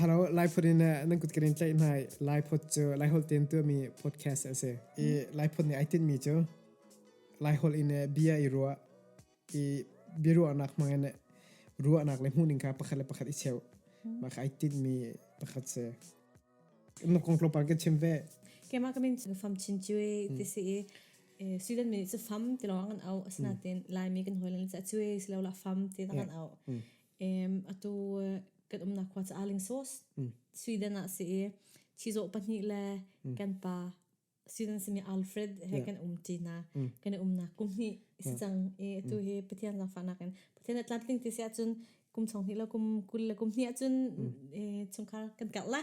Hello, Lai phun in nan kut kirin tlaih hnai Lai phot cu Lai hol ten tu mi podcast a si. I Lai phun nih ai tin mi cu Lai hol in bia i ruwa i bia ruwa nak mang in ruwa nak le hmu ning ka pakhat le pakhat i cheu ma ka ai tin mi pakhat se. Na kong tlopar ke chim ve. Kema kamin fam chin chui tisi i student mi cu fam ti lawng an au asna ten lai mi kan hoilan cha chui silaula fam ti tan au. Em atu kan umnak khua ca Arling Sauce Sweden ah si i chizawh pahnih le kan pa Sweden simi Alfred he Yeah. kan um ti na kan i umnak kum hnih si cang i tu hi Pathian zangfahnak in Pathian a tlamtling ti si ahcun kum chong hnih le kum kul le kum hnih ahcun eh, chungkhar kan karh la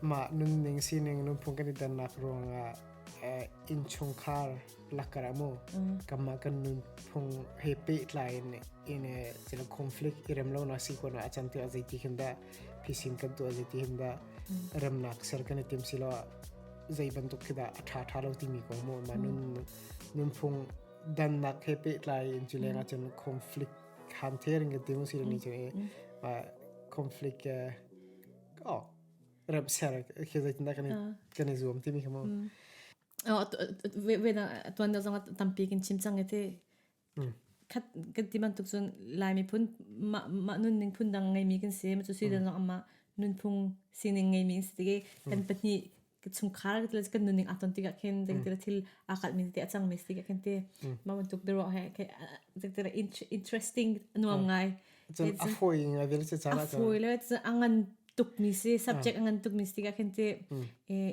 Mah nunning sining lungphung kan i dannak ruangah innchungkhar lakar ah maw kanmah kan nunphung he pehtlai in in cila conflict i rem lonak si ko na a can tiah zeiti him dah phisin kan tuah zeiti him dah remnak ser kan i tim si lo ah zei bantuk khi dah a ṭha ṭha lo timi ko mu mah nun nunphung dannak he pehtlai in cu leng ah cun conflict han therin kan tim si lo ni cun conflict Rap ser khi zeitindah kan kan i zuam timi khi mu. Oh, vena tuan da zong tampi kin chim cang ete. Khat kan ti man tuk sun laimi phun ma nun ning phun dang ngai mi kan si ma chu si da zong amma nun phung sining ngai mi si tige kan pahni ka chungkhar kan nuning aton ti ka khin deng tira thil akal min te achang me ti ka khin te ma man tuk dero he ke deng tira interesting nuam ngai chun afoi ngai vel se chana afoi le chun angan tuk mi se subject angan tuk mi ti ka khin te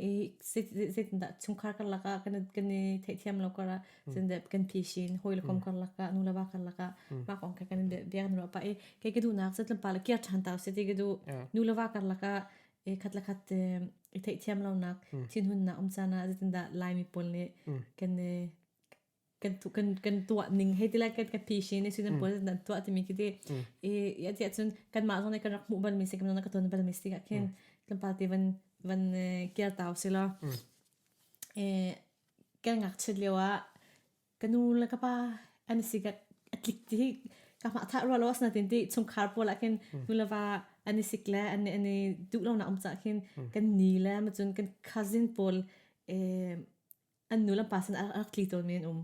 e se se da chungkhar kar laka kan kan the thiam lo kara chun de kan pishin hoi le kom kar laka nu la ba kar laka ma kong ka kan de biang ro pa e ke ke du nak se tlum pa la kia than ta se ti ke du nu la ba kar laka i khat la khat te i theihthiam lonak thinhunnak um caan ah zeitindah laimi pawl nih kan i kan tu kan kan tuah ning hei ti lai kan ka thi shi ne si nan pawl nan tuah timi ki ti i ya ti cun kan mah zong ne kan rak mu ban mi si kan na ka ton ban mi si ka khin kan pa ti van van kiar tau si lo e kan ngak chit liawa ka nu le ka pa an si ka atlik ti ka ma tha ro lo asna tin ti chungkhar pawl ah khin nu le va an i sik le an an i du lo na um cha khin kan ni le ma chun kan cousin pawl eh an nu le pa sin rak tli to men um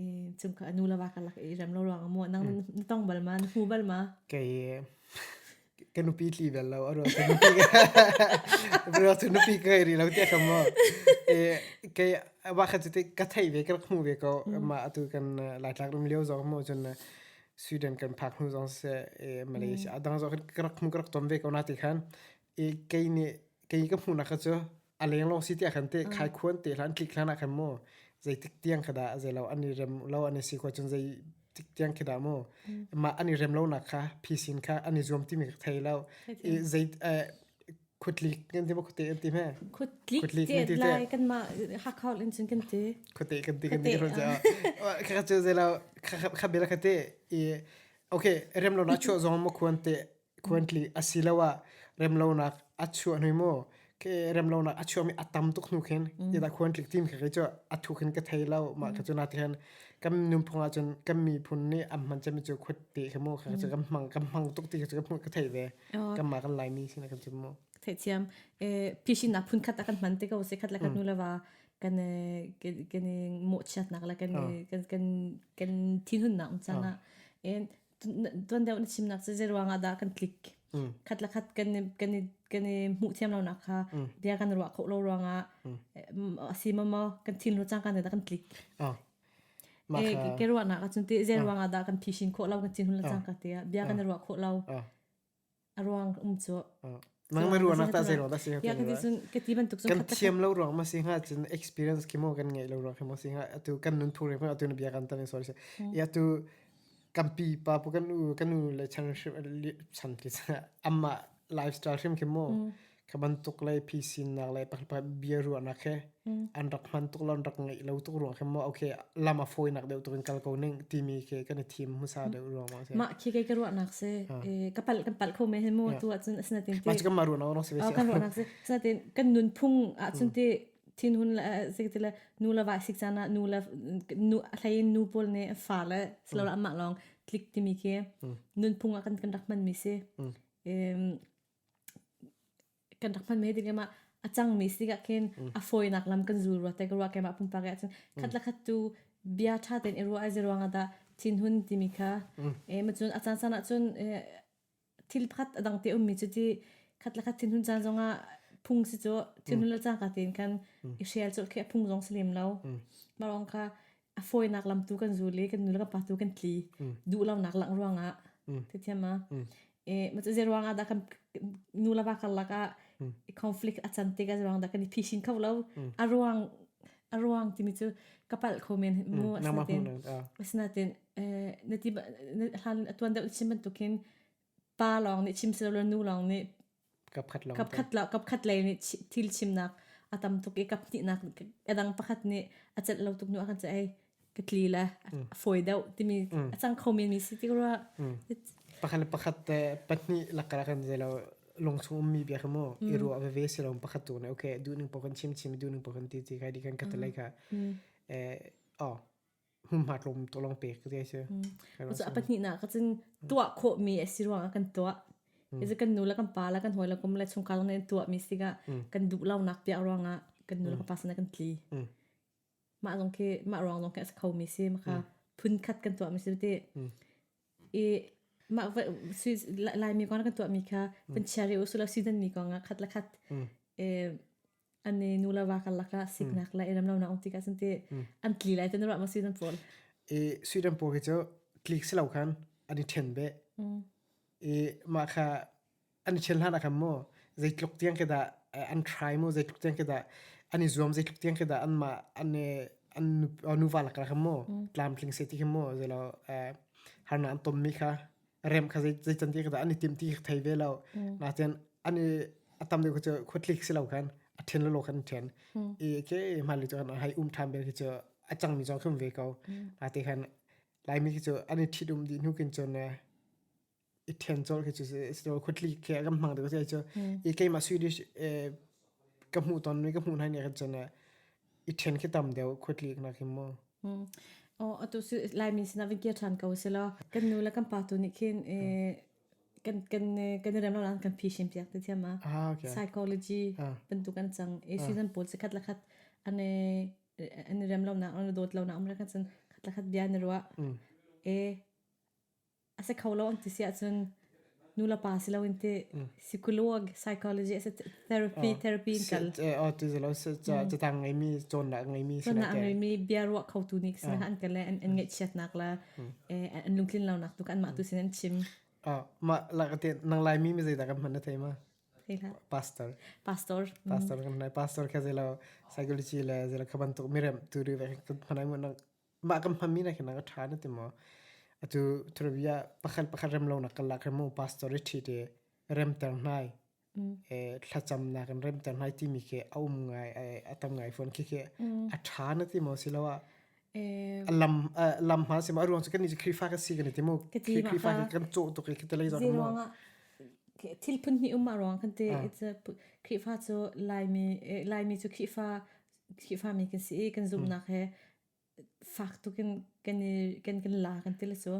eh chung ka nu le va ka lak i rem lo ruang mu nang na tong bal ma na hmu bal ma kei Ka nupi tli bel lo, a ruang cu nupi a ruang cu nupi ka ngei rih lo tiah ka maw. I kei a wakhat cu ka theih ve, ka rak hmuh ve ko. Mah atu kan Laitlak ram lio zong maw cun Sweden kan phak hnu zong siseh, i Malaysia a dang zong ka rak hmu, ka rak tom ve ko na ti khan. I kei nih, kei ka hmuhnak cu a lenglong si tiah khan te mm. khai khuan te hlan tlik hlan ah khan mu zei tik tiang khada zai lo ani rem lo ani si ko chun zei tik tiang khida mu ma ani rem lo nak kha phisin kha ani zuam ti mi thei lo zei khutli kan ti ma khute an ti me khutli te lai kan ma ha khaul in chin kan ti khute kan ti kan ti ro ja kha chu zai lo kha bela khate i okay rem lo na chu zong ma khuan te Khuantli asiloah remlonak a chuah hnui maw khe remlonak a chuahmi a tam tuk hnu khin idah khuantli tim khe kei cu a thu khin ka thei lo mah kha cu na tihin kan nunphung ah cun kan miphun nih an hman cemmi cu khuat te khi maw kha cu kan hmang kan hmang tuk ti khi cu ka hmuh ka theih ve kanmah kan Laimi sin ah kan chim maw theithiam phisinnak phun khat ah kan hman te ko se khat la khat nu lava kan kan i mawhchiatnak la kan kan kan thinhunnak um caan ah tuan deuh na chim nak cu zei ruangah dah kan click mm. khat la khat kan kan kan i mu thiam lo nak kha mm. bia kan ruah kho lo ruangah a si ma ma kan thin ro chang kan da kan click e ke ruah nak a chun ti zei ruangah dah kan phishin kho lo kan thin hun la chang ka tia bia kan ruah kho lo aruang um cu nang le ruang ta se lo da se ya kan ti sun ke ti ban tuk sun kan thiam lo ruang ma si nga chin experience ki mo kan ngai lo ruang mo si nga atu kan nun thu re ma atu na bia kan ta ni sorry se ya tu kan pi pa pu kan u kan u le chan ship chan ki sa amma lifestyle hrim ki mo Kha bantuk le phi sinak le pakhat bia ruahnak he an rak hman tuk lo an rak ngeih lo tuk ruang khi maw okay lam a fawinak deuh tuk in kal ko ning timi ke kan i thim hmusa deuh ruang ma si mah khi ke ka ruahnak se ka pal kan pal kho me he mo tu ahcun asinatin ke ma chu ma ruahnak no se be kan ruahnak se asinatin kan nun phung ahcun ti thin hun la se ti le nu la wa sik chana nu la nu athlai nu pol ne fa la slow la ma long click timi ke nun phung a kan kan rak man mi se em kan rak hman mai ding em ah a cangmi si ah khin a fawinak lam kan zul rua te ka ruah keimah pumpak ah cun khat le khat tu bia ṭha tein i ruah ai zi ruang ah dah thinhun timi kha eh ma cun a caan san ah cun eh thil pakhat a dang te ummi cu ti khat le khat thinhun caan zong ah phung si cu thinhun le cangka tein khan i hrial cu khi a phung zong si lem lo. Mah lawng kha a fawinak lam tu kan zu le kan nu le kan pa tu kan tli duh lonak lang ruangah te thiam ma e ma chu je ruangah da kan nu la ba kar lakah conflict a chan te ka ruang da kan i phishin kho lo a ruang a ruang timi chu kapal kho men mu asnatin asnatin nati hlan atuan deuh chim bantukin pa long nih chim selo nu long nih Kapkhat lo kapkhat lei nih thil chimnak a tam tuk i kaphnih a dang pakhat nih a celh lo tuk nu a kan ceh ei ka tli le a fawi deuh timi a cang kho men mi si ti rua. Pakhat le pakhat te pahnih lakka kan zei lo lungchung ummi bia kha mu i ruah veve si lo pakhat tu ne okay duh ning po kan chim chim duh ning po kan ti ti kai di kan katalai ka o hmunhma tlawm to long pek te si. Usa pahnih na ka cin tua kho mi asi ruang kan tua. Izi kan nu la kan pa la kan hoi la kum la chung kal ngai tua mi siga kan dup lau nak pia ruang ah kan nu la kan pa sana kan tli. Ma zong ke ma ruang zong ke as kho mi si maka phun khat kan tua mi si te. I ma lai mi kong kan tua mi kha pan chiari usula season mi kong ah khat la khat. E an i nu le va karlak ah siknak le i remlonak um tikah cun ti an tli lai te na ruah ma sui nan pawl i sui dan pawl khi cu tlik si lo khan an i ṭhen be i mah kha an i ṭhen hlan ah khan maw zeitluk tiang ke dah an trai maw zeitluk tiang ke dah an i zuam zeitluk tiang ke dah an mah an an nu va lak khan maw tlamtling se ti khi maw zei lo harnak an tom mi kha a rem kha zei can ti ka an i tim ti thei ve lo na chen an i a tam deuh cu khutlik si lo khan a ṭhen lo khan ṭhen i ke ma li chu an hai um ṭhan ber khi chu a cang mi zo khum ve ko na te khan lai mi khi chu an i ṭhit um di hnu kin chun i ṭhen chol khi chu si khutli khi a kam hmang deuh sai chu i keima Swedish ka hmu ton mi ka hmu nai ne khan chun I ṭhen khi tam deuh khuatlik nak hi maw. Aw atu su Laimin sinah vin kir ṭhan ko selo. Kan nu le kan pa tu nih khin kan kan kan rem lo lang kan phishim piak te thiam a. Psychology bantuk an cang. E season pawl se khat la khat ane ane rem lo na ane dawt lo na umra kan san khat la khat bia na ruah. E a si kho lo an ti si ahcun nulepa si loin ti psychologue psychology as a therapy therapy in kal oh ti zelo se cha ti tang ngai mi chon la ngai mi chon la ngai mi bia ruah kho tu ni sina an kale an an ngai chiat nak la eh an lungtlin lo nak tu kan ma tu sin an chim ah ma la ka te nang lai mi mi zai da kan man na thei ma pastor pastor pastor kan nai pastor kha zelo psychology le zelo khaban tuk mirem tu ri ve kan phanai mun Mah kan hmanmi nak hin a ṭha na ti maw? Atu thurabi ah pakhat pakhat remlonak karlak hin maw pastor i ṭhit i remter hnai, thlacamnak in remter hnai timi khi a um ngai a tam ngai fawn. Khikhi a ṭha na ti maw asiloah a lam lam hma si maw? A ruang cu kannih cu Khrihfa kan si kan i ti maw? Khrihfa hi kan cawh tuk i khitalei zong maw? Thil phun hnih um a ruang kan ti. Khrihfa cu Laimi Laimi cu Khrihfa Khrihfami kan si i kan zumhnak he fak tuk in kan i kan kan la kan ti le cu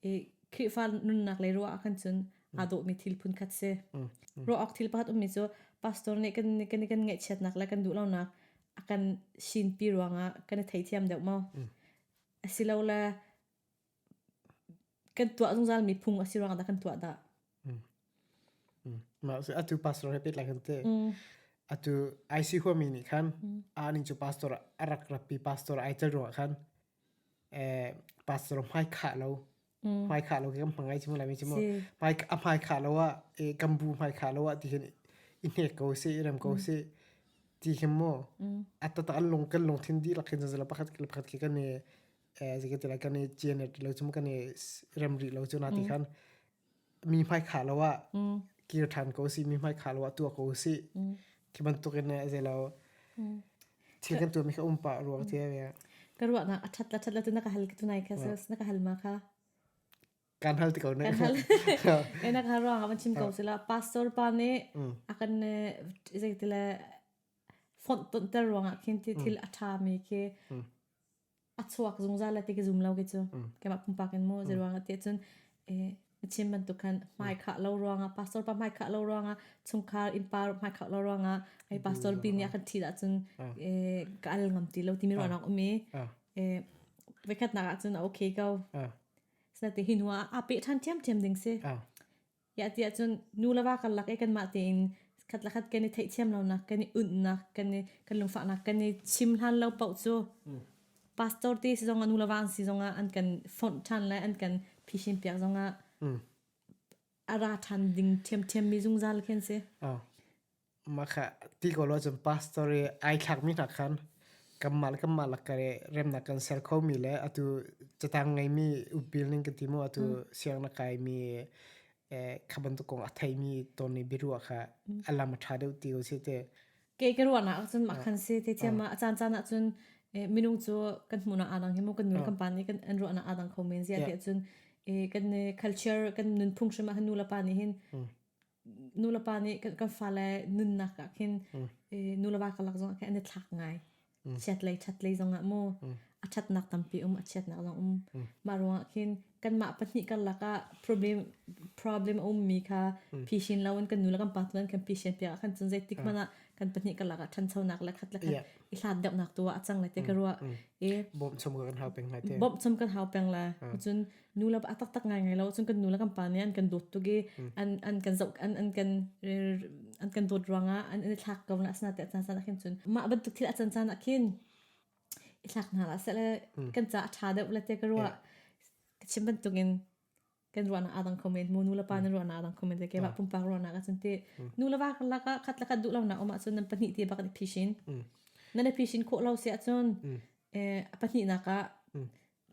i Khrihfa nunnak lei ruah ah khan cun aa dawhmi thil phun khat si. Ruah awk thil pakhat ummi cu pastor nih kan kan kan ngaihchiatnak le kan duh lonak a kan sinpi ruangah kan i theithiam deuh maw? Asilole kan tuah zungzalmi phung a si ruangah dah kan tuah dah? Atu pastor he petlai kan te. Atu IC huami nih khan aning cu pastor a rak rappi pastor ai tel ruangah khan pastor hmai khah lo hmai khah lo ke kan hmangai chimu lai chimu hmai a hmai khah lo ah kan bu hmai khah lo ah ti hin i hnek ko se i rem ko se ti hem mo a tata an lung kan lung thin di lakin zazala pakhat ke pakhat ke kan eh zike ti lai kan i chen ti lo chum kan i rem ri lo chu na ti khan mi hmai kha lo a kir than ko si mi hmai kha lo a tua ko si ki ban tuk in ze lo thil kan tu mi kha um pa ruang te ve ka ruwa na athat la that la tu na ka hal ki tu nai kha ses na ka hal ma kha kan hal ti ko ne kan hal e na ka ruang avan chim ko sila pastor pa ne akan ne ze ti le font ton ter ruang a khin ti thil atha mi ke a chuak zungzal a ti ki zum lo ki cu keimah pumpak in mu ruang a ti cun eh chim bantuk khan hmai khah lo ruangah pastor pa hmai khah lo ruangah chungkhar innpa hmai khah lo ruangah ai pastor pi nih a kan thi da cun eh ka al ngam ti lo timi ruangah um i eh vekhatnak ah cun a okay ko sate hi hnu ah a peh ṭhan ṭhiamṭhiam ding si Yah ti ahcun nu le va karlak i kanmah tein khat le khat kan i theihthiam lonak, kan i unhnak, kan i kan lungfahnak kan i chim hlan lo paoh cu pastor ti si zongah nu le va an si zongah an kan fonh ṭhan le an kan phishin piak zongah a ra ṭhan ding ṭhiamṭhiam mi zungzal khi an si. Makha ti ko lo cun pastor i ai thlakmi hna khan kanmah le kanmah lakah i remnak kan ser khomi le atu catang ngeimi upil ning ka ti maw atu siang na kaimi kha bantuk kong a theimi tawn i biaruah kha a lam a ṭha deuh ti ko sih teh. Kei ka ruahnak ahcun mah khan si tithiam a caancaan ahcun minung cu kan hmuhnak aa dang hi maw kan nulepa kan pa nih an ruahnak aa dang kho men ziah tiahcun kan culture kan nunphung hrim ah kan nule pa nih hin nulepa nih kan fale nunnak ah khin nuleva kalak zong ah khin an i thlak ngai chiatlei chatlei zong ah mu a thatnak tampi um a chiatnak zong um mah ruang ah khin kanmah pahnih karlak ah problem problem a ummi kha phishin lo in kan nu le kan pa tu nan kan pishin piak ah khan cun zeitik hmanh ah kan pahnih karlak ah thanchonak le khat le khat i hlat deuhnak tu ah a cang le te ka ruah i bawm chom kan hau peng ngai te bawm chom kan hau peng la cun nu le a taktak ngaingai lo cun kan nu le kan pa nih an kan dawt tuk i an an kan zoh an an kan an kan dawt ruangah an i thlak ko na asna te caan caan ah khin cun mah bantuk thil a can caan ah khin i thlak hna la sele kan ca a tha deuh le te ka ruah ka chim bantuk in kan ruahnak a dang comment mu nu le pa nan ruahnak a dang comment le ke ba pumpak ruahnak a cun te nu le wa laka khat laka duh lo na um ahcun nan pahnih te bak ni phishin nan i phishin khawh lo se ahcun a pahnih nak ah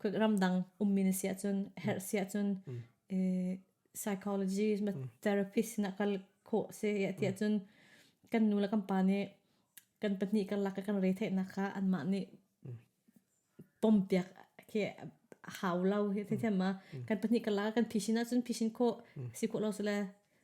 kut ramdang ummin siahcun herh siahcun eh, psychologist ma therapist sinah kal khawh se ya tiah cun kan nu le kan pa nih kan pahnih kan lak kan rei theihnak kha anmah nih pompiak khi hau lo hi themma kan pahnih kan lak kan phishin ahcun phishin khawh si khawh lo sile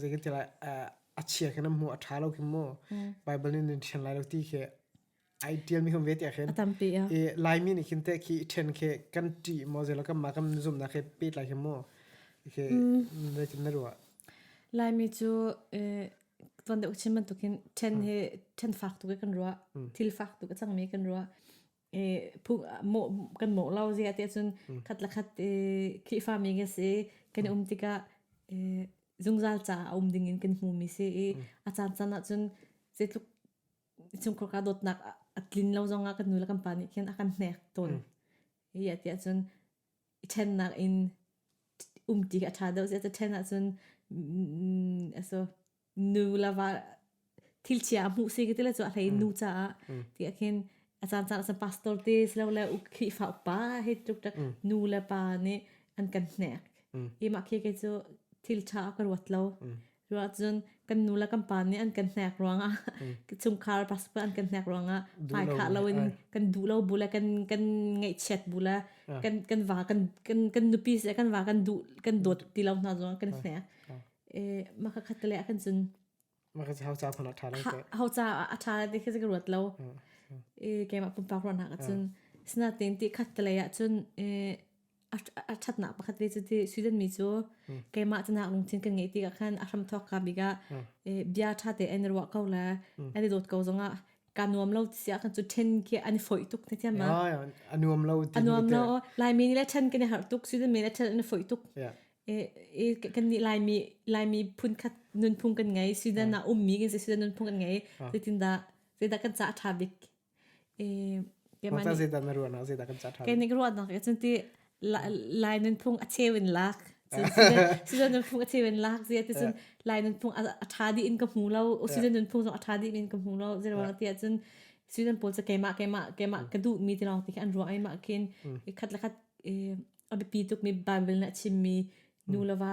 zei kan ti lai a chia khin an hmuh a ṭha lo khi mu Bible nih nan ṭhian lai lo ti khi ai ṭial mi kan ve te khin a tampi i Laimi nih khin teh khi i ṭhen khi kan ṭih maw zei lo kan mah kan zumnak khi pet lai khi mu khi na tin na ruah Laimi cu tuan deuh chim bantuk hin ṭhen hi ṭhen fak tuk i kan ruah thil fak tuk a cang mi kan ruah I phu mawh kan mawh lo zi ati ahcun Mm. khat le khat i Khrihfami kan si i kan i Mm. um tikah i zungzal caah a um dingin kan hmumi si i Mm. a caancaan ahcun zeitluk chungkhar kaa dawtnak a a tlin lo zongah kan nu le kan pa nih khin a kan hnek tawn. Mm. Hi ati ahcun i ṭhennak in umṭi a ṭha deuh. Zeicah ṭhen ahcun nu lava thilchia a hmuh si ka ti le cu a hlei in nu caah ti ah khin a caancaan ahcun pastor te silole Khrihfa upa hi tluk tluk nu le pa nih an kan hnek. Hi mah khi kei cu thil ṭha a ka ruat lo. Cuahcun kan nu le kan pa nih an kan hnek ruangah chungkhar pastor an kan hnek ruangah hmaikhah loin kan duh lo bu le kan kan ngaihchiat bu le kan kan va kan kan kan nupi seh kan va kan duh kan dawt ti lo hna zong kan hnek e maka khat le kan cun maka hau ca thon a tha lai hau ca a tha lai ti khi ka ruat lo e keimah pumpak ruahnak cun sinatin ti khat le ah cun e a ṭhatnak pakhat ve cu ti Sweden mi cu keimah canak lungthin kan ngeih tikah khan a hramthawk ka bik ah bia ṭha te an ruah ko le an i dawt ko zongah ka nuam lo tiah kan cu ṭhen khi an i foih tuk ne tiam ma a nuam lo a nuam lo laimi nih le ṭhen kan i harh tuk Sweden mi nih ṭhen an i foih tuk kan nih laimi laimi phun khat nunphung kan ngei Sweden ah ummi kan si Sweden nunphung kan ngei zeitindah zeidah kan cah ṭha bik Mah ca zeidah na ruahnak zeidah kan ca ṭhan? Kei nih ka ruahnak cu ti lai nunphung a cheu in lak. Sizon nunphung a cheu in lak zia ti cun lai nunphung a ṭha dih in ka hmu lo. Sizon nunphung zong a ṭha dih in ka hmu lo. Zeiruang tiah cun sizon pawl cu keimah keimah ka duhmi ti lawng ti khi an ruah ai mah khin. Khat le khat a biapi tukmi Bible nih a chimmi nu le va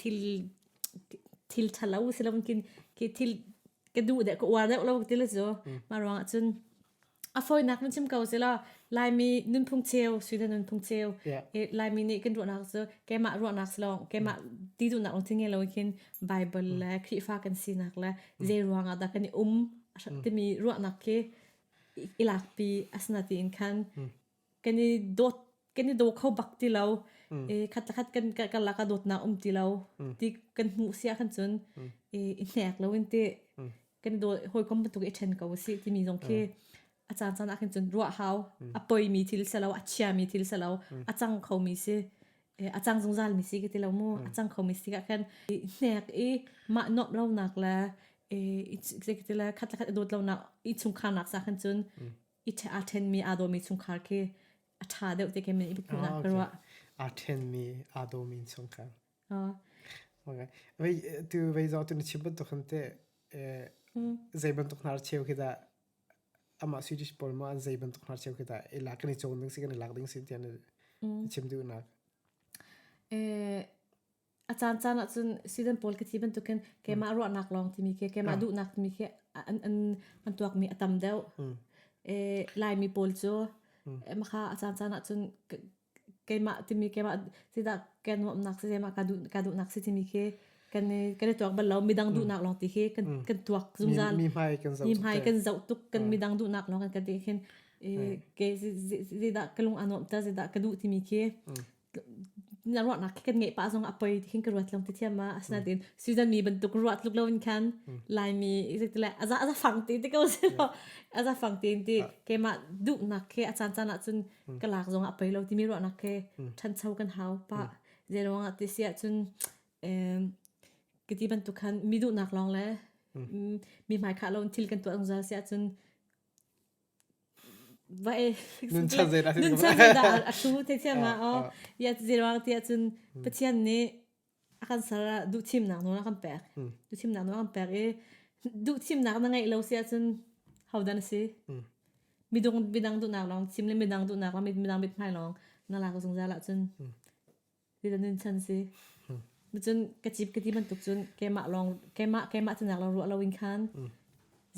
thil ṭhalo si loin thil ka duh deh ka uar deuh lo ti le cu mah ruangah cun a fawinak nun chim ko sela Laimi nunphung cheu suina nunphung cheu Laimi nih kan ruahnak cu keimah ruahnak si lo keimah ti duhnak lawng tinge lo khin Bible le Khrihfa kan sinak le zei ruangah dah kan i um timi ruahnak khi i lakpi asina tiin khan kan i dawt kan i daw kho bak ti lo. I khat le khat kan kan lak ah dawtnak um ti lo. Ti kan hmuh sia khan cun i i hnek loin ti kan i daw hawikom bantuk i ṭhen ko usih timi zong khi a caan caan ah khin cun ruah hau. A poimi thil si lo, a chiami thil si lo, a cang khomi si, a cang zungzalmi si ka ti lo mu. A cang khomi si ah khan i hnek i mah nuamh lonak le i i ka ti le khat le khat i dawt lonak i chungkharnak sa khan cun i a ṭhenmi aa dawmi chungkhar khi a ṭha deuh te ke men i biaknak ka ruah. A ṭhenmi aa dawmi chungkhar. Okay. Vei tu vei zo tu na chim bantuk ham te zei bantuk hnar cheu khi da ama su dis pol ma an zei bantuk hnar cheu khi da e lak ni chong ding si kan lak ding si tian chim du nak. E A caancaan ahcun Sweden pawl khi ti bantukin keimah ruahnak lawng timi khi keimah duhnak timi khi an an an tuakmi a tam deuh. Ee Laimi pawl cu makha a caancaan ahcun keimah timi keimah zeidah kan nuamhnak si zeimah ka duh ka duhnak si timi khi kan i kan i tuak bal lo midang duhnak lawng ti khi kan kan tuak zungzal. Mi hmai kan zoh tuk. Mi hmai kan zoh tuk kan midang duhnak lawng kan kan ti khin ee ke zeidah ka lung a nuamh ta zeidah ka duh timi khi na ruahnak kan ngeih pah zong a poi ti khin ka ruat long ti thiam ma asinain season mi bantuk ruat tluk lo in khan laimi exactly a za a za fang ti ti ko se lo a za fang ti ti keima duhnak ke a caan caan ah cun ka lak zong a poi lo timi ruahnak ke ṭhancho kan hau pa zeruang ah ti sia cun kiti bantuk khan mi duhnak lawng le mi hmai khah lo in thil kan tuah zungzal sia cun Vai nuncan zeidah nuncan zeidah a hlu thiam ah aw ya zeruang ti ahcun Pathian nih a kan ser ah duhthimnak nawl a kan pek duhthimnak nawl a kan pek i duhthimnak na ngeih lo si ahcun hodan a si midung midang duhnak lawng thim le midang duhnak lawng midang mithmai lawng na lak zungzal ahcun Ti cun chan si. Cun ka cip ka ti bantuk cun keimah lawng keimah keimah cu nak lo ruah lo in khan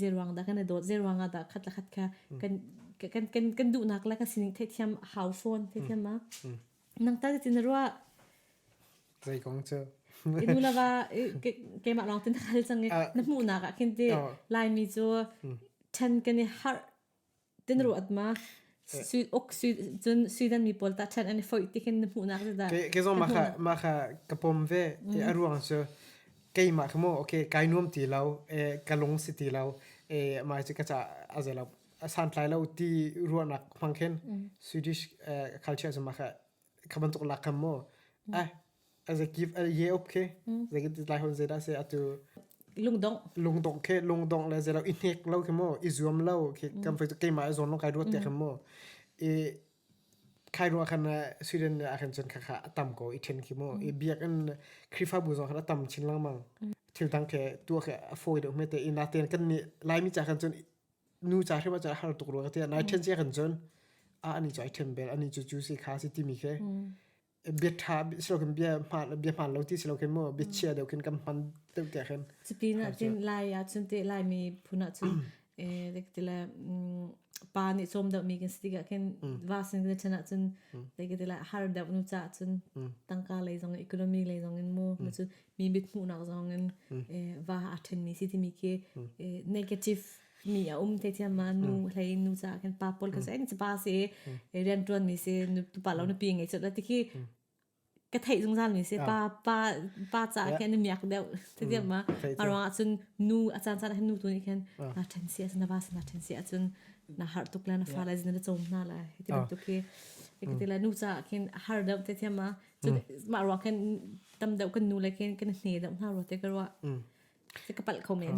zeruang dah kan i dawt zeruang ah dah khat la khat kha kan kan kan kan duhnak le kan sining theithiam hau fawn theithiam ma nang ta ti na ruah zei kong cu i nu la va keimah lawng tin hal chang i na hmuhnak ah khin ti laimi cu chen kan i har Tinruat ma uk cun Sweden mi pawl tah thlan an i foih tikin na hmuhnak cu dah? Ke zong mah kha ka pom ve a ruang cu keimah kha maw okay kai nuam ti lo ka lung si ti lo mah cu ka caah a zei lo a santlai lo ti ruahnak hmang khin Swedish culture cu mah kha kha bantuk lakam maw ai as a give a ye up khi zekin ti lai hon ze da se atu lungdong lungdong khi lungdong le zelo i hnek lo khi mo i zuam lo khi kam fai tu keima zon lo kai ruat te kham mo i khai ruwa khan sweden ne a khan chun kha kha tam ko i then khi mo i biak an khrifa bu zo khan tam chin lang mang thil dang ke tu ke a foi de me te i na ten kan ni lai mi cha khan chun nu ca hrim ah cun a har tuk rua ka tiah nai ṭhen cia kan cun a ani cu ai ṭhen bel ani cu cu si kha a si timi khi bia ṭha si lo khin bia hmaan bia hmaan lo ti si lo khin mu bia chia deuh khin kan hman deuh tiah khin Cuti na tin lai ah cun te lai mi phun ah cun eh like ti le mm, pa nih cawm deuh mi kan si tikah khin va sin kan chan ah cun like ti le har deuh nu ca cun tangka lei zong economy lei zong in mu nu cu mi mithmuhnak zong in va a thenmi si timi khi negative mi a um te thiam ma nu hlei nu ca kan pa pol ka sai ni pa si rian tuan mi si tu pa lo na pi ngai chot la ti khi ka thei zungzal mi si pa pa pa ca khen na miak deuh ti thiam ma a ruang ah cun nu a chan chan nu tu ni khen na then si asuna ba sana then si acun na har tuk la na fa la zin na chom na la hi ti bantuk khi ti la nu ca khin har deuh te thiam ma mah ruang khin tam deuh kan nu le khin kan hne deuh hna ro te ka ruah se ka pal kho men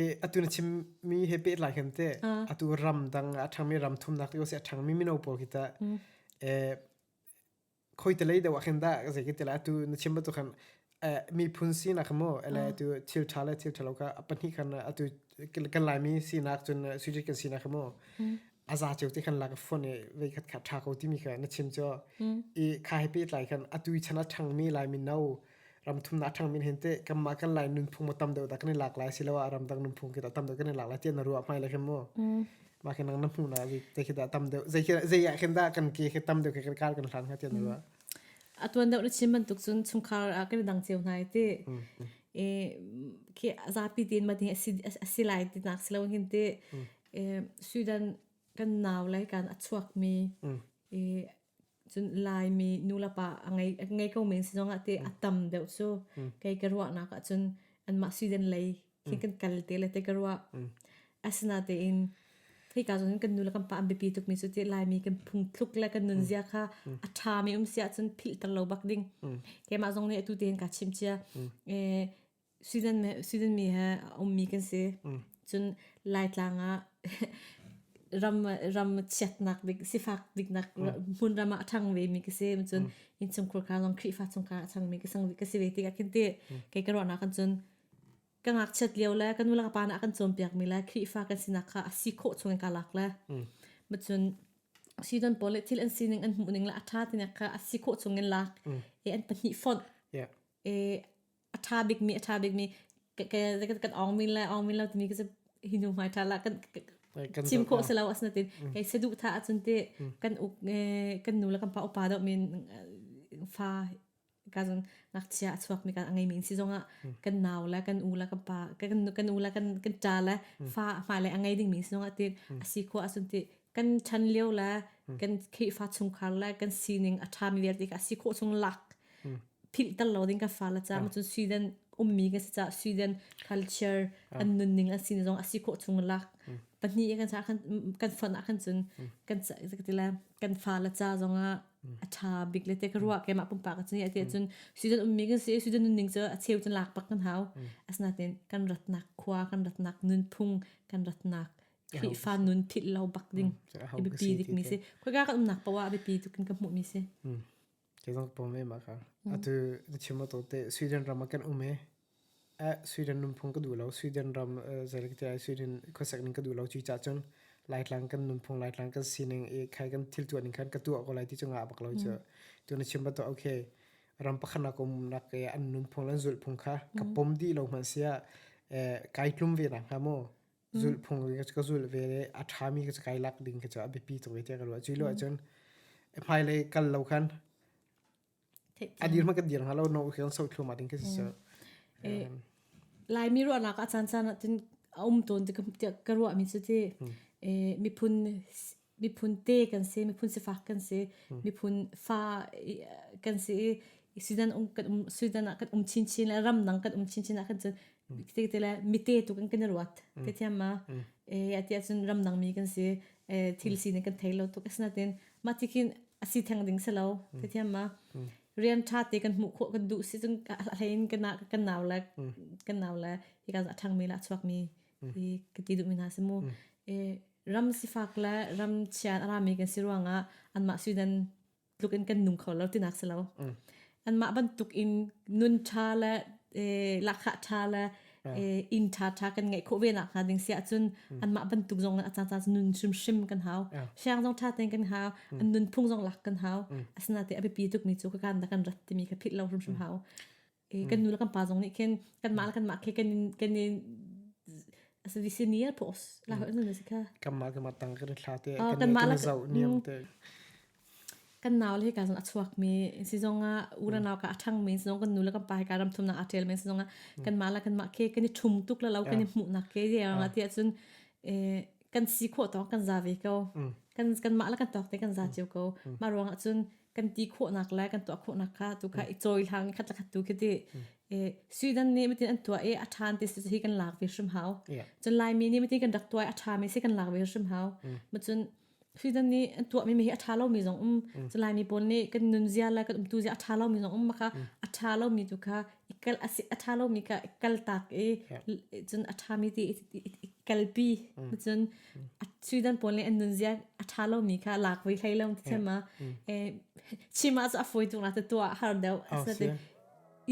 e atu na chim mi he pe lai khem te atu ram dang a thang mi ram thum nak yo se thang mi mino po ki ta e khoi te lei deuh khin da ze ki te la atu na chim ba tu khan miphun sinak mo ele tu thil tha le thil thalo ka pahnih kan atu kan laimi sinak cun suji kan sinak mo aza cheu te khan la ka phone e ve khat kha tha ko ti mi ka na chim cho i kha he pe tlai khan atu chana thang mi lai min no ram thum na thang min hin te kamma kan lai nun phung mo tam deu da kan lak lai silawa ram dang nun phung ki da tam deu kan lak lai chen na ruwa mai lai khan mo ma kan na mu na vi te ki da tam deu zei zei ya khan da kan ke ki tam deu ka kal kan hlan ha chen na ruwa atuan deuh na chim bantuk cun chungkhar ah kan dang cio hna i ti i khi zapi tin ma ding asi asi lai ti nak si lo hin ti i Sweden kan nau lei kan a chuak mi i cun Laimi nu le pa a ngei a ngei ko men si zong ah ti a tam deuh cu kei ka ruahnak ah cun anmah Sweden lei khi kan kal te le te ka ruah asina tein hei ka zon kan nu le kan pa an bipi tuk mi cu ti lai mi kan phung thluk le kan nun zia kha a tha mi um sia cun philter lo bak ding ke ma zong nih atu tein ka chim chia e season me season mi ha um mi kan si cun lai tlang a ram ram chiat nak dik sifak dik nak mun ram a thang ve mi ka se cun in chung khur kha zong khri fa chung ka chang mi ka sang ka si ve ti ka khin te ke ka ro na kan cun ka ngakchiat lio le kan nu le ka pa nih a kan cawnpiakmi le Khrihfa kan sinak kha a si khawh chung in ka lak le macun season pawl le thil an sining an hmuhning le a ṭha tinak kha a si khawh chung in lak e an pahnih fonh Yeah. e a ṭha bikmi a ṭha bikmi ka- ka- kan ongmin le ongmin lo timi ka si hi nu hmai ṭha la kan kan- Kan chim dawt khawh na. si lo asina ti kei saduh tha ahcun ti kan uk e, kan nu le kan pa upa deuh min e, fa ka zong ngakchia a chuakmi kan a ngeimi in si zongah kan nau le kan u le kan pa kan kan u le kan kan ṭa le fa fa le a ngei dingmi si zongah ti a si khua a sun ti kan chan lio le kan khihfa chungkhar le kan sining a ṭhami vialte ka si khawh chung lak philh tal lo ding kan fa la cha cun Sweden ummi kan si ca Sweden culture an nunning an sin zong a si khawh chung lak pahnih kan sa kan kan fon ah kan cun kan kan ti le kan fa la cha zongah a tha bik le te ka ruah ke mah pumpa ka chani ate cun season um mi kan si season nun ning cu a cheu cun lak pak kan hau asna ten kan ratnak khua kan ratnak nun phung kan ratnak Khrihfa nun phit lo bak ding i bipi dik mi si khoi ka kan umnak pawa bipi tu kan ka hmu mi si ke zang pom me ma ka atu the chimo to te Sweden ram kan ume Sweden nunphung ka duh lo. Sweden ram zeilatiah Sweden khuasik ning ka duh lo. Cucaah cun Laitlang kan nunphung, Laitlang kan sining i khai kan thil tuah ning khan ka tuah ko lai ti cungah a bak lo cu. Cun a chim va tuah, okay, ram pakhatnak um nak i an nunphung le an zulhphung kha ka pom dih lo hmanh siah kai tlum ve nak hnga maw? Zulhphung ka zulh ve le a ṭhami ka kai lak ding khi cu a biapi tuk ve tiah ka ruah. Cu lio ahcun hmailei kal lo khan A dir ma kan dir halo no khian so thlu ma ding ke si. Laimi ruahnak a chan chan tin a um ton ka ruah mi cu ti miphun miphun te kan si miphun si fak kan si miphun fa kan si sudan um kan um sudan ah kan um chin chin le ram nang kan um chin chin ah kan cun ti te le mite tu kan kan ruat ke thiam ma e ati ahcun ramdang mi kan si e thil si ne kan thei lo tuk asinatin ma ti khin asi theng ding selo te thiam ma rian tha te kan hmuh khawh kan duh si cun hlein kan kan nau le kan nau le hi kan athang mi la chuak mi hi ka ti duh mi hna si mu e ram sifak le ram chian ara mi kan si ruangah anmah sweden tluk in kan nung kho lo tinak si lo an mah bantuk in nun tha le lakha tha le inn tha tha kan ngei kho ve nak hnga ding sia cun an mah bantuk zong a caan caan nun shim shim kan hau siang zong tha ten kan hau an nun phung zong lak kan hau asina te a bipi tuk mi cu ka kan da kan rat timi ka phit lo hrim hrim hau i kan nu le kan pa zong nih khin kanmah le kanmah khi kan in kan in asi senior post la hoih nun asi kha kanmah kanmah tang kan thla te Oh, kan kanmah la- kan zau niam te kan nau le ka zong a chuak mi si zong ah unanau ka a ṭhang mi si zong kan nu le kan pa hi ka ram thum nak a ṭel mi si zong ah kanmah la kanmah khi kan i ṭhum tuk la lo kan i hmuh nak ke ye anga ti ahcun eh, kan si khawh tawng kan za ve ko kan kanmah la kan tawk te kan za cio ko mah ruang ahcun kan ti khawhnak le kan tuah khawhnak kha tu kha i cawihlang khatlakhat tu khi ti Sweden nih matin an tuah i a ṭhan ti si hi kan lak ve hrim hau cun Laimi nih matin kan rak tuah i a ṭhami si kan lak ve hrim hau ma cun Sweden nih an tuahmi mi hi a ṭha lomi zong um cun Laimi pawl nih kan nunzia le kan umtuzia a ṭha lomi zong um maka a ṭha lomi tu kha i kal a si a ṭha lomi kha i kaltak i cun a ṭhami ti i kalpi cun suidan pawl le an nunzia a ṭha lomi kha lak ve hlei lo ti ma chima cu a fawi tuk na tuah har deuh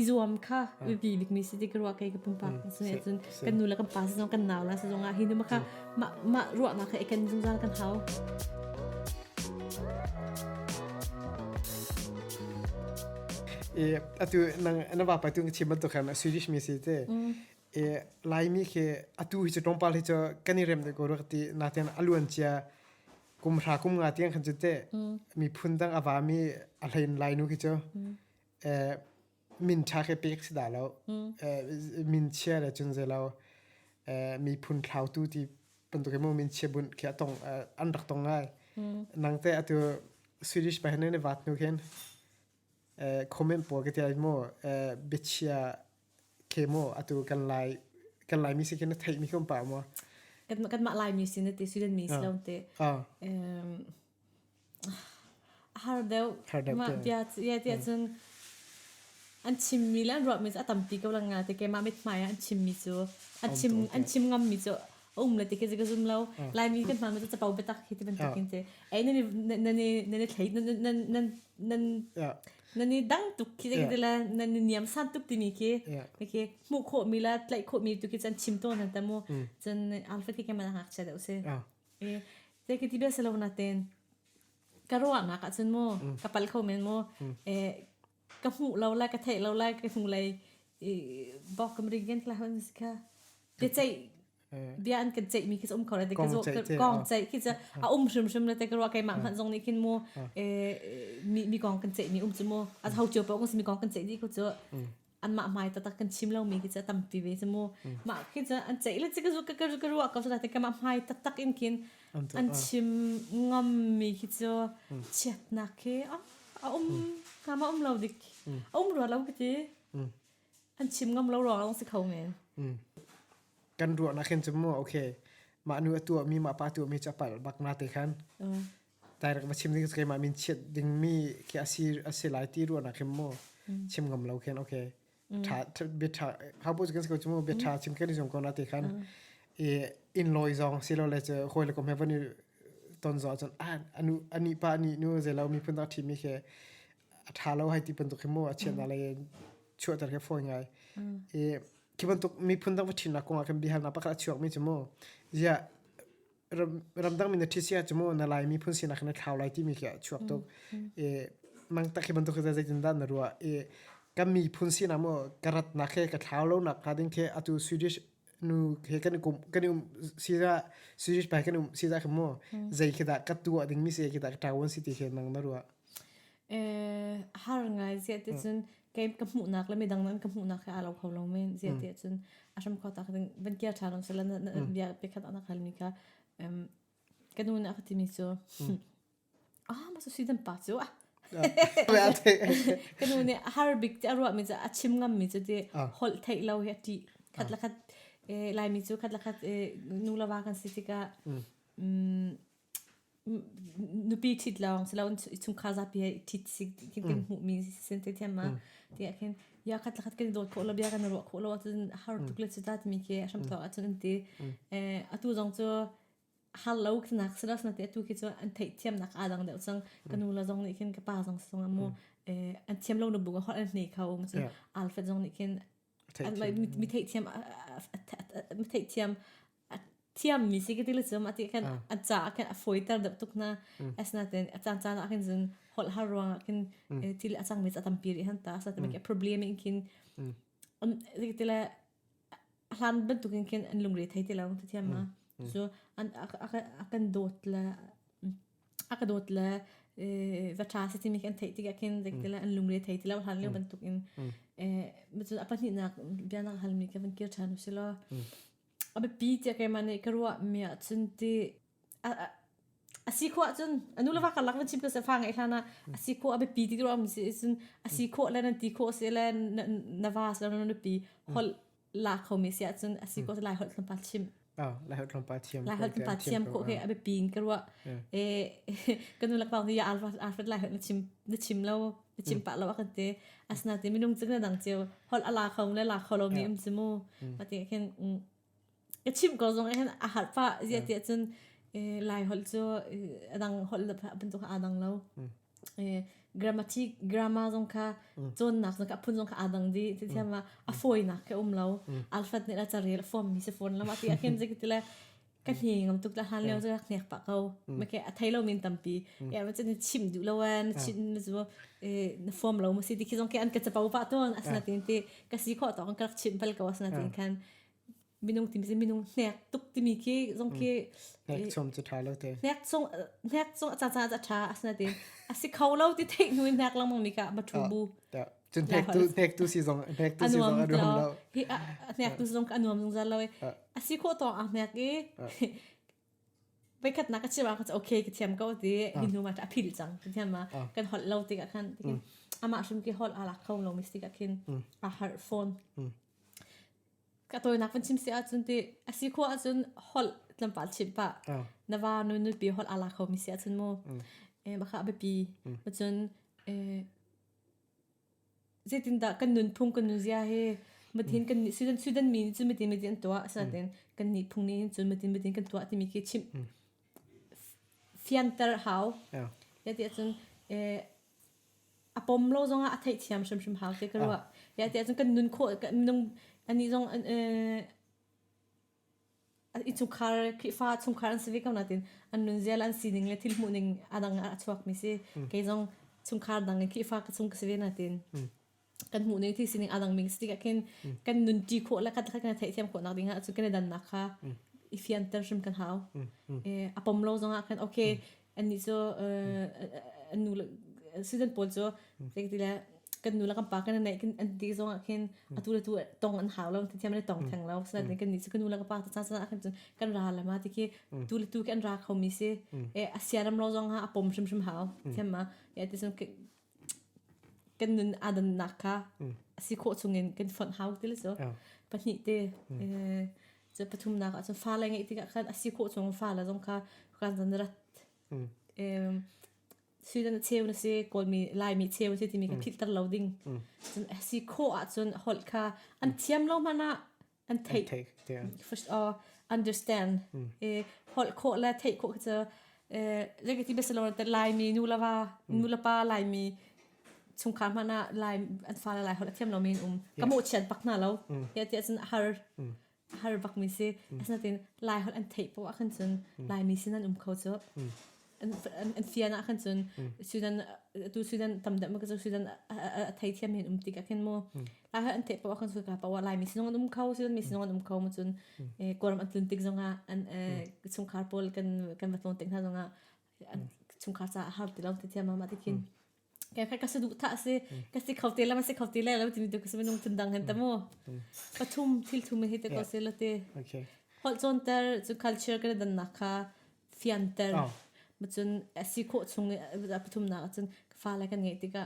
i zuam kha biabikmi si ti ka ruah kei ka pumpak cun kan nu le kan pa si zong kan nau le si zong ah hi nu ma kha ma, ma ruahnak kha eken zungzal kan hau e atu nang na ba pa tu ngi chiman to kha ma swedish mi si te e laimi ke atu hi chu tongpal hi chu kan i rem de ko rak ti na ten aluan chia kum ra kum nga tiang khan chu te mi phun dang ava mi a hlain lai nu khi chu e min tha ke pek si da lo min chia le cun ze lo mi phun thlau tu ti bantuk emaw min chia bunh khi atong an rak tong ngai nang te atu swedish pa hen ne wat nu khen comment po ke te mo biachia ke mo atu kan lai kan lai mi si khen thei mi khum pa mo kan ma lai mi sin te sweden mi si lo te A har deuh. Har deuh Mah tiah tiah cun an chimmi le an ruahmi cu a tampi ko lang nga te keimah mithmai ah an chimmi cu an chim an chim ngammi cu a um le ti khi ka zum lo. Laimi kan hmanmi cu capo biatak hi ti bantuk in ti. Ei nan i nan i nan i thlei nan nan nan nan nan i dang tuk khi ti le nan i niam san tuk timi khi khi hmuh khawhmi le tlaih khawhmi tu khi cun chim tawn an tam u. Cun arfi khi keimah hngakchia deuh si. Te ki ti bia si lo na ten ka ruahnak ahcun mu ka pal kho men mu ka hmuh lo lai ka theih lo lai ka hnu lei bok kam ring gen tla hon ka te ceih bia an kan ceih mi khi um kho le te ka kong ceih khi a um hrim hrim le te ka ruwa kai mah hman zong nih khin mu mi kong kan ceih mi um cu mu a hau cio pa ung si mi kong kan ceih di khu cu anmah hmai tatak kan chim lomi khi cu a tampi ve cu mu mah khi cu an ceih le cik zu ka ka ka ruah ko sa te kamah hmai taktak in kin an chim ngam mi khi cu chiatnak khi a um kama um lo dik a um rua lo ka ti an chim ngam lo ruang long si kho men kan ruah na khen chu mu okay mah nu atuah mi ma pa tuah mi cha pal bak na te khan Direct va chim ding keimah min chiat dingmi khi asi asi lai ti ruahnak hin mu chim ngam lo khin okay tha bia tha how bu kan ko chu mu bia tha chim kan jong ko na te khan e in loi zong si lo le che hoi le kom he van i ton zo chon a anu ani pa ani nu ze lo mi phun tak thi mi ke a tha lo hai ti pan tuk hin mu a chian na le chua tar ke foi ngai e ki ban tuk mi phun tak va thin na ko nga kan bihal na pakra chuak mi chu mu ya ramdang mi na thisia chumo na lai mi phun sin khan thlau lai ti mi khi chuak tuk e mang tak hi bantuk zai tin dan na ruwa e kan mi phun sin amo karat na khe ka thlau lo nak ha ding the atu swedish nu he kan kum kan sira swedish pai kan sira khmo zai khi da ka tu ding mi se khi da ta won city he nang na ruwa e har ngai zia te chun Game ka hmuhnak le midang nan ka hmuhnak he aa lo kho lo men. Ziate mm. cun a hram kho tak ding van kia ṭha lon se la na mm. bia pe khat anak halmi kha um, ka nu nih a ka timi cu mm. ah ma su si dan pa cu ah ka nu nih har bik ti a ruahmi cu a chim ngammi cu ti holh theih lo hi a ṭi khat la khat lai mi cu khat la khat nu lava kan si tika nupi thit lawng si lo chungkhar zapi he thit si kan hmuhmi sin te thiam ma ti ah khin ya khat lakhat kan dawt khawh lo bia kan ruah khawh lo ahcun har tuk le cuta timi ke a hram to ahcun an ti atu zong cu har lo khinak si lo ti atu khi cu an theih thiam nak a dang deuh cang ka nu la zong nih khin ka pa zong sung amu an thiam lo na bu hor an nei kho ma cun alfred zong nih khin mi theihthiam mi theihthiam thiam mi si ka ti le chum ati khan a cha khan a foi ter dap tuk na as na ten a chan chan a khin zun hol har ruang a khin thil a chang mi cha tam pi ri han ta sa te ke problem in khin um ri ti le hlan ban tu kin khin an lung re thai ti lo ti thiam ma so an a kan dot la a ka dawt le e, va ṭha si timi khi an theih tikah khin zeikte le an lungre thei ti lo hlan lio bantuk in e, macun a pahnihnak bia nang halmi ka van kir ṭhan u silo a biapi tiah keimah nih ka ruahmi ahcun ti a, a, a si khawh ahcun a nu le va karlak van chim ka se fa ngeih hlan ah a si khawh a biapi ti ruahmi si ahcun a si khawh le nan ti khawh si le na, na va si le na nupi holh la khomi siah cun a si ko lai holh tlawmpal chim Oh, lai holh tlawmpal thiam. lai holh tlawmpal thiam ko he a biapi in ka ruah e ka nu lakbau ni alfred lai holh na chim na chim lo na chim pa lo a kan te asna ti minung cing na dang ceu holh ala khom le la kholo mi um zimu ma ti khin ka chim ko zong hen a har pa zia ti cun lai holh cu adang holh da bantuk adang lo grammatic grammar zong kha cawnnak zong kha a phun zong kha aa dang dih ti thiam a a fawinak he um lo alhrat nih a carel form mi si fawn lo a ti a khin zik ti le ka hne ngam tuk la hlan leo cu hnek pa ko ma ke a thei lo min tampi e ma chin chim du lo an chin ma chu na form lo ma si ti khi zong ke an ka chapo pa ton asna tin ti ka si kho to an ka chim pal ko asna tin khan minung tim si minung hnek tuk timi khi zong khi hnek chung cu tha lo te hnek chung hnek chung a caca a tha asna te asi kho lo ti theih nu in hnek langmang mi ka bathroom bu cun hnek tu hnek tu si zong hnek tu si zong a nuam lo hi hnek tu si zong ka nuam zung zal lo asi kho to a hnek i veikhat nak a chira ka okay ka thiam ko ti hin nu ma ta phil chang ti thiam ma kan hol lo ti ka khan ama shum ki hol ala kho lo mi si ka khin a har phone ka tawinak van chim se ahcun ti asi khua ahcun hol tlampal chim pa na va nu nu pi hol ala kho mi se ahcun mu eh baka bipi macun eh zeitin dah kan nun phung kan nun zia he matin kan ni sudan sudan mi cu matin matin an tua satin kan ni phung ni cu matin matin kan tua timi ki chim fianter hau ya ti ahcun eh a pom lo zong ah a theihthiam hrimhrim hau ti ka ruah. Ia ti ahcun kan nun khawh kan minung anih zong i chungkhar Khrihfa chungkhar an si ve ko nain an nunzial an sining le thil hmuhning a dang ah a chuakmi si. Kei zong chungkhar dang i Khrihfa ka chung ka si ve nain. kan hmuh ning thil sining adang ming stick akin kan nun ti khawh la kan kan thei thiam khawh nak ding ah cu kan dan nak kha i fian tan hrim kan hau eh apom lo zong ah kan okay an ni so an nu student pawl so like ti la kan nu la kan pa kan nei kan an ti zong ah khin atu la tu tong an hau lo ti thiam le tong thang lo sa din kan ni so kan nu la ka pa ta sa sa khin kan ra la ma ti ki tu le tu kan ra kho mi se eh asiaram lo zong ha apom hrim hrim hau thiam ma ya ti so kan nun aa dannak kha a si khawh chungin kan fonh hau ti le cu pahnih te cu pathumnak ah cun fale ngeih tikah khan a si khawh chung fale zong kha kan zan rat suidan a cheu na si kawlmi laimi cheu si timi ka philhter lo ding cun a si khawh ahcun holh kha an thiam lo hmanh ah an theih take yeah uh, understand mm. e holh khawh le theih khawh kha cu e legi ti besalon te lai mi nu lawa nu la pa lai mi chung kha mana lai an fa lai holh thiam lo min um kamo chian pak na lo ya ti cun har har bak mi si asnatin lai holh an theih po akhan cun lai mi sinan um kho chu an fian ah khan cun sudan tu sudan tam dam ka chu sudan a thei thiam hin um ti ka khin mo a an te pa khan su ka pa wa lai mi sinong an um kho sudan mi sinong an um kho mo cun koram an tlun tik zonga an sung khar pol kan kan va tlon tik na zonga chung khar cha har ti lom ti thiam ma ti khin Ka ka ka sa duh tha si. Ka si kho te la ma si kho te la la tin tu ka sa minung tun dang han tamu. Ka thum thil thum hi te ko se lo te. Okay. Hol chon tar chu culture ka dan na kha fian tar. Ma chun si kho chung a pathum na chun fa la kan ngai tika.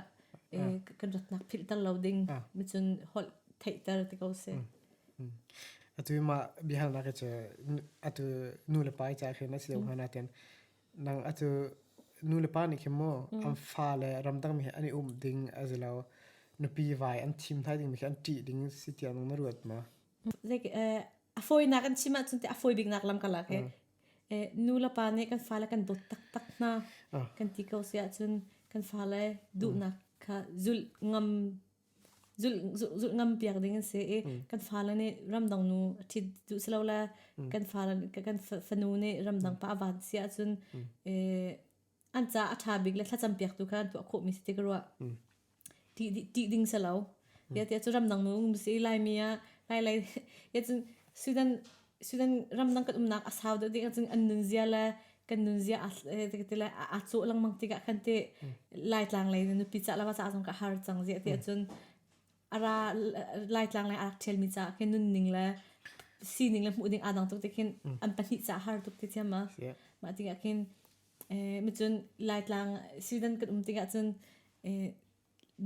Kan rot nak phil tar lo ding. Ma chun hol thei tar te ko se. Atu ma bihar na ka che atu nu le pai cha khe na si lo hana ten. Nang a cu nulepa nih khin maw an fale ramdangmi he an i um ding a si lo nupi vai an thim hna dingmi khi an ṭih ding si tiah nang na ruat maw? Like eh, a fawinak an chim ahcun ti a fawi biknak lam karlak he eh, nulepa nih kan fale kan dawt taktak hna kan ti ko si ahcun kan fale duhnak kha zulh ngam zulh ngam piak ding an si i kan fale nih ramdang nu a ṭhit duh si lo le kan fale kan fanu nih ramdang pa a van si ahcun an ca a ṭha bik le thlacam piak tu kha an tuah khawhmi si ti ka ruah ṭih ding si lo. Yatiah cu ramdang nu um si Laimi ah Lai Lai yacun Sudan Sinan ramdang kan umnak a sau deuh ding ahcun an nunzia le kan nunzia a ti le a cawh lengmang tikah khan ti Laitlang lei na nupi cah le va cah zong ka har cang ziah ti ahcun a ra Laitlang lei a rak ṭhialmi caah khin nunning le sining le hmuh ding aa dang tuk ti khin an pahnih cah har tuk ti thiam a mah tikah khin macun Laitlang Sweden kan um tikah cun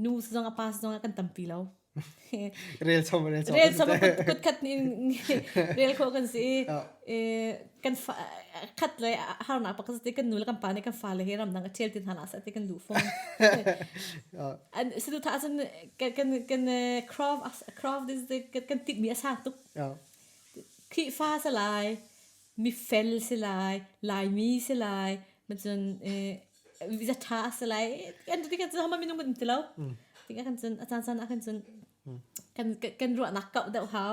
nu zong a pa zong ah kan tampi lo rel chom rel chom rel chom kut khat in rel kho kan si i kan khat le har na pak si kan nu le kan pa nih kan fa le he ram dang a ṭhial tin hana sa ti kan lu fong an si tu tha cun kan kan crop crop this kan tik mi a sang tuk khi fa se lai mi fel si lai lai mi si lai ma cun vi ṭha a si lai. Kan tikah cun hama minung um ti lo. Tikah kan cun a caan caan ah kan cun kan kan ruahnak kauh deuh hau.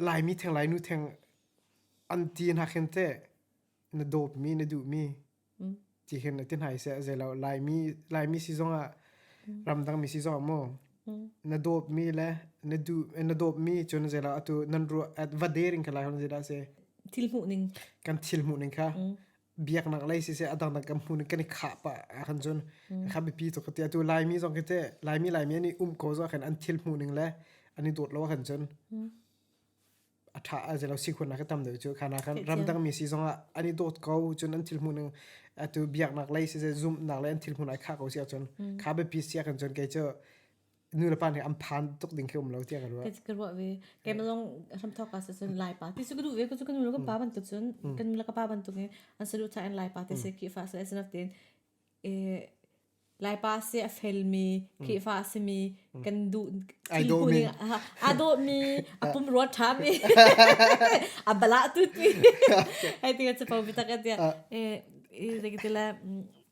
Laimi theng Lainu theng an ti hna khin te na dawpmi na duhmi ti hin na ti hna se zei lo Laimi Laimi si zong ah ramdangmi si zong maw na dawpmi le na du na dawpmi cun zei lo atu nan ruah va der in ka lai hon zei dah se thil hmuh ning kan thil hmuh ning kha biaknak lei si se adang kan hmun kan i khah pa han chun kha bipi to kati atu laimi zong kete laimi laimi ani um ko zo kan an thil mu ning le ani dot lo kan chun atha a je lo si khun na ka tam de chu khana kan ramdang mi si zong ani dot ko chun an thil mu ning atu biaknak lei si se zoom nak le an thil mu ai kha ko si chun kha bipi sia kan chun ke chu nu le pa nih an phan tuk ding khi um lo tiah ka ruah. Ka ka ruah ve. Kem long hram thok as cun lai pa ti su ka du ve ku su ka nu ka pa bantuk cun kan la ka pa bantuk in an saru cha in lai pa ti se ki fa se as tin e lai pa se a fel mi ki fa se mi kan du I do mi. a do mi a pum ro tha mi a bala tu ti ai ti ka chapau bi tak atia e e regi tila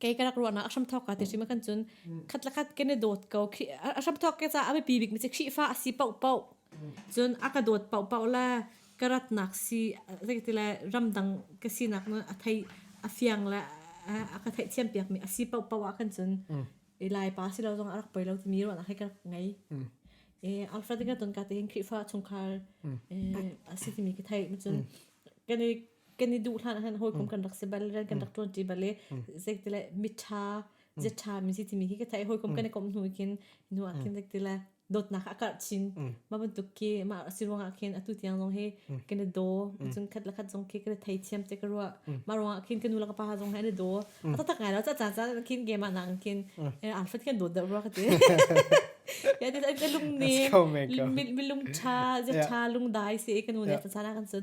kei ka rak ruahnak a hram thawk ka ti sim kan cun khat la khat ke ne dawt ko khi a hram thawk ke ca a pi bik mi chi khi fa a si pau pau cun a ka dawt pau pau la ka rat nak si zai ti le ramdang ka si nak na a thei a fiang la a ka thei thiam piak mi a si pau pau a kan cun i lai pa si lo zong a rak poi lo ti mi ruahnak hai ka ngai e alfred ka ton ka te khi fa chungkhar a si ti mi ka thei ma cun kan kan i duh hlan han hawikom kan rak si bal ran kan rak tuan ti bal i zeiti le mitha zeṭha mi si timi hi ka thai hawikom kan i komh hnu kin nu ah khin zeiti le dawtnak a karh chin mah bantuk ki mah si ruang ah khin atu tiang zong hi kan i do cun khat la khat zong khi kan i thei thiam te ka ruwa mah ruang ah khin kan nu la ka pa zong hi an i do a ta tak ngai lo ca ca ca khin game ah nang khin an fat khin dawt da ruwa ka ti ya ti lung ni mi lung tha ze tha lung dai si kan nu ne ta sana kan sun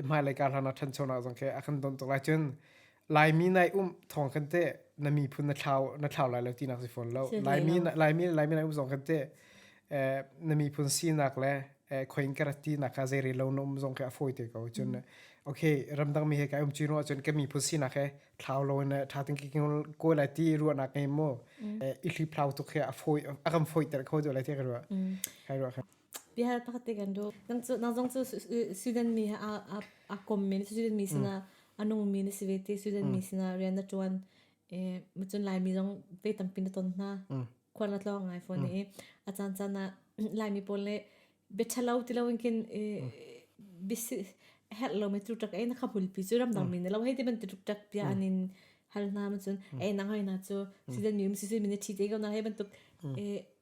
hmailei ka hlan ah ṭhanchonak zong khi a kan don tuk lai cun Laimi nai um thawng kan te na miphun na thlau na thlau lai lo ti nak si fawn lo Laimi Laimi Laimi nai um zong kan te na miphun sinak le khoin ka rati nak ka zeire lo na um zong khi a foi te ko cun okay ramdang mi he ka um chuin wa cun ka miphun sinak he thlau lo na tha ting ki ko lai ti ruwa nak ngai mo i thli thlau tuk he a foi a kan foi ter kho do lai ti ka ruwa kai ruwa Bia pakhat te kan duh. Kan cu nang zong cu student mi he a a a kom mi na student mi sinah a nung mi na si ve ti student mi sinah rian na ṭuan. Eh macun Laimi zong vei tampi na ton hna. Khual na tlawng ngai fawn i a caan caan ah Laimi pawl le bia ṭhalo ti lo in khin bia herh lo mi tlukṭak ei na kha bulpi cu ramdang mi na lo hei ti bantuk ṭak bia an in hal hna macun ei nang hoi na cu student mi um student mi na ṭhi te ko na hei bantuk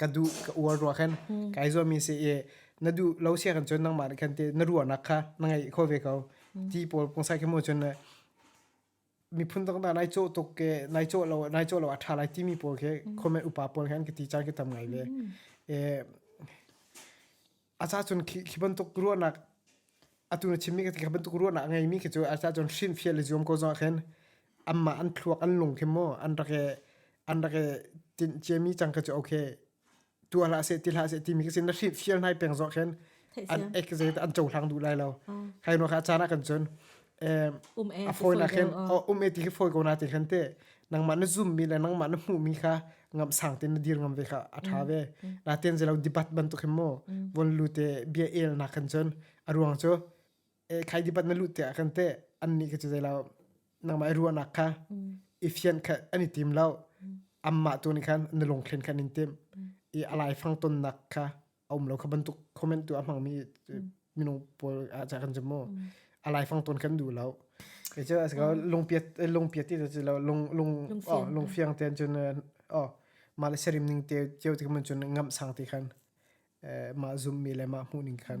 ka duh ka uar rua khan kai zuam mi si i na duh lo sia kan chun nangmah khan te na ruahnak kha na ngei kho ve ko ti paul pungsai khe mo chun miphun tak da nai cho tuk ke nai cho lo nai cho lo atha lai ti mi paul khe comment upa paul khan ka ti chang ke tam ngai ve e a ca cun khi khi bantuk ruahnak atu na chimmi ka ti kha bantuk ruahnak a ngeimi khi cu a ca cun hrin fia le zuam ko zong ahkhin anmah an thluak an lung khi mu an rak e an rak e tin ciami cang kha cu okay tu hlah se ti hlah se timi ka sin na hrin fial nai peng zong ahkhin an ek zet an cohlang duh lai lo khai no kha caan ah kan cun um e fawi na khin um e ti hi fawi ko na ti khin te nangmah na zoom mi le nangmah na hmuh mi kha ngam sang te na dir ngam ve kha a tha ve na ten je lo dibat ban tu khim mo von lu te bia el na khan chon aruang cho e khai dibat na lu te a khan te an ni ke chu zai la nangmah ruwa nak kha ifian kha ani tim lo amma tu ni khan na lung khin khan in tim i alai fang ton nak kha a um lo kha bantuk comment tu a hmang mi minung pawl ah ca kan jamo a laifang ton kan du lo ke cho as ka lung piat lung piat ti ci lo lung lung lung fiang ten chun o ma le serim ning te cheu ti mun chun ngam sang ti khan ma zoom mi le ma mu ning khan